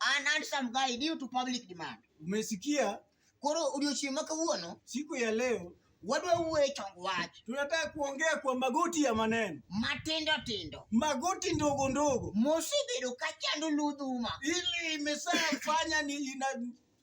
An handsome guy due to public demand. Umesikia? Koro odiochieng' ma kawuono, siku ya leo wadwa wuoye chong wach. Tunataka kuongea kwa magoti ya maneno matindo tindo, magoti ndogo ndogo, mosebedo ka chando ludhuma, ili imesafanya ni ina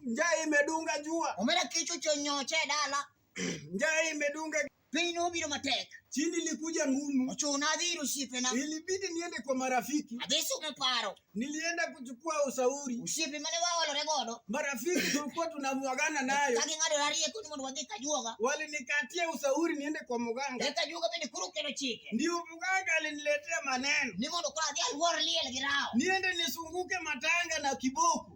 Njaa imedunga jua. Omera kicho chonyoche dala. Njaa imedunga piny nobiro matek, chini ilikuja ngumu, ochuna adhiri osiepena, ilibidi niende kwa marafiki, adhi sumo paro, nilienda kuchukua ushauri, osiepe mane waolore godo, marafiki tulikuwa tunamwagana nayo, kagi ng'ado ariye kuni mondo wadhi Kajuoga, walinikatia ushauri niende kwa mganga, e Kajuoga bende kuru kendo chike, ndio mganga aliniletea maneno ni mondo kura adhi alwor liel gi rao, niende nisunguke matanga na kiboko